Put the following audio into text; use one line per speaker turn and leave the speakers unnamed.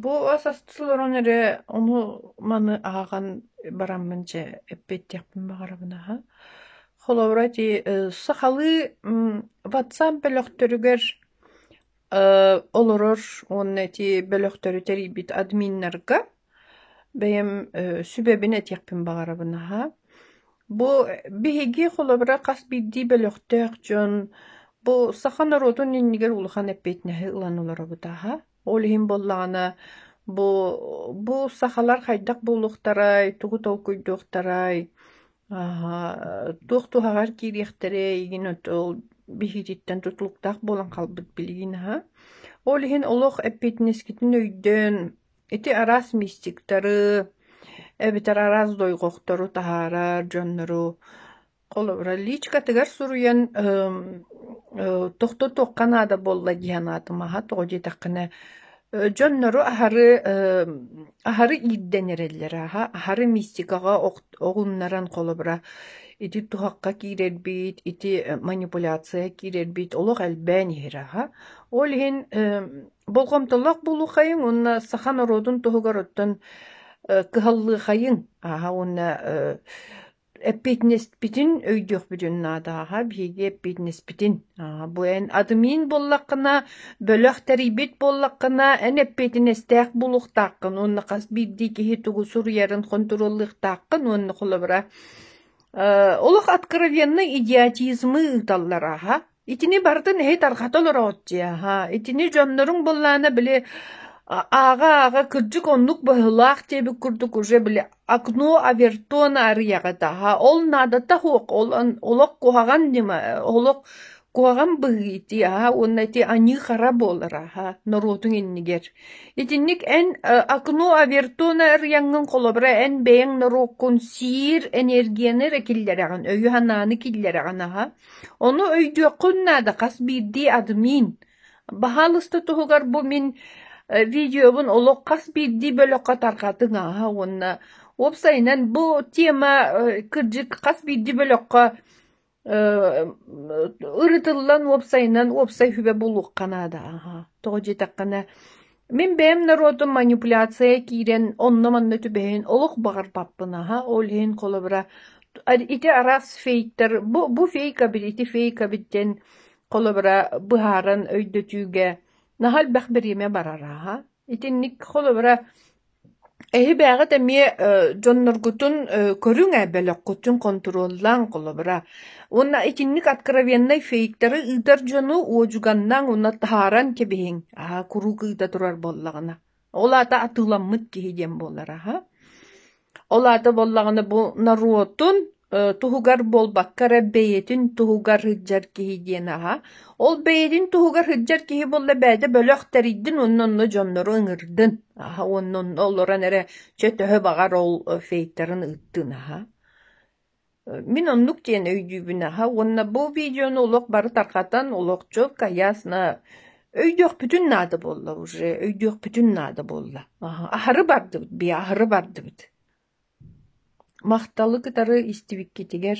Бу ас асты олорон эрэ ону маны аһаҕан бараммын чэ эппиэттиэхпин баҕарабын аһа. Холобура ити сахалыы ватсап бөлөхтөрүгэр олорор уонна эти бөлөхтөрү тэрийбит админнарга Бэйэм сүбэбин этиэхпин баҕарабын аһа. Бу биһиги холобура хас биирдии бөлөхтөөх дьон бу саха норуотун иннигэр улахан эппиэтинэһи ылан олоробут аһа. Ол иһин буоллаҕына бу бу сахалар хайдах буолуохтарай, тугу толкуйдуохтарай, туох туһаҕар киириэхтэрэй игин ол биһиититтэн тутулуктаах буолан хаалбыт билигин аһа. Ол иһин олох эппиэтинэскитин өйдөөн Ити араас мистиктары эбэтэр араас дойҕохтору таһаарар дьоннору холобура личкатыгар суруйан ыым ыы тохтотуохха наада буолла дии санаатым аһа тоҕо диэтэххинэ э дьоннору аһары ыым аһары иирдэн эрэллэрэ аһа аһары мистикаҕа оҕуннаран холобура ити туһахха киирэрбит ити манипуляция киирэрбит олох элбээн иһэрэ аһа ол иһин ыым Болҕомтолоох буолуоххайыҥ уонна саха норуотун туһугар оттон кыһаллыаххайыҥ ааһа уонна эппиэтинэспитин өйдүөхпүтүн наада ааһа биһиги эппиэтинэспитин ааһа бу эн админ буоллаххына бөлөх тэрийбит буоллаххына эн эппиэтинэстээх буолуохтааххын уонна хас биирдии киһи тугу суруйарын хонтуруоллуохтааххын уонна холобура олох откровеннай идиотизмы ыыталлар ааһа Итини барытын эһи тарҕата олороҕут дии, аһаа, итини дьонноруҥ былаана били ааҕа-ааҕа кырдьык оннук быһыылаах диэбит курдук уже били окно овертона арыйаҕыт аһаа ол наадата суох ол олох куһаҕан ньыма олох куһаҕан быһыы ити аһаа уонна ити аньыы-хара буолар аһаа норуотуҥ иннигэр итинник эн окно овертона арыйаҥҥын холобура эн бэйэҥ норуоккун сиир энергияны эрэ киллэрэҕин өйү-санааны киллэрэҕин аһаа Ону өйдүөххүн наада, хас биирдии аты миин. Баһаалыста туһугар бу мин видеобун олох хас биирдии бөлөххө тарҕатыҥ ааһа уонна уопсайынан бу тема кырдьык хас биирдии бөлөххө ырытыллан уопсайынан уопсай сүбэ булуохха наада ааһа. Тоҕо диэтэххинэ Мин бэйэм норуотум манипуляция киирэн онно-манна түбэһин олох баҕарбаппын аһа, ол иһин холобура ити араас фейктэр бу бу фейкабыт ити фейкабыт диэн холобура быһааран өйдөтүүгэ наһаа элбэх бириэмэ барара аһа. Итинник холобура Эһи-бээҕит эмиэ дьонноргутун көрүҥ ээ, бөлөххүтүн хонтуруоллааҥ, холобура. Уонна итинник откровеннай фейктэри ыытар дьону уодьуганнааҥ уонна таһааран кэбиһиҥ, аһа куруук ыыта турар буоллаҕына. Ол аата атыыламмыт киһи диэн буолар аһа. Ол аата буоллаҕына бу норуотун туһугар буолбакка эрэ бэйэтин туһугар сылдьар киһи диэн аһа. Ол бэйэтин туһугар сылдьар киһи буолла бэйэтэ бөлөх тэрийдин уонна онно дьоннору ыҥырдын. Аһа уонна онно олорон эрэ чөтөһө баҕар ол фейтерын ыыттын аһа. Мин оннук диэн өйдүүбүн аһа уонна бу видеону олох бары тарҕатан олохчу кайясна өйдüөхпүтүн наада буолла уже өйдüөхпүтүн наада буолла. Аһары бардыбыт би аһары бардыбыт. Махталы кытары истибиккитигэр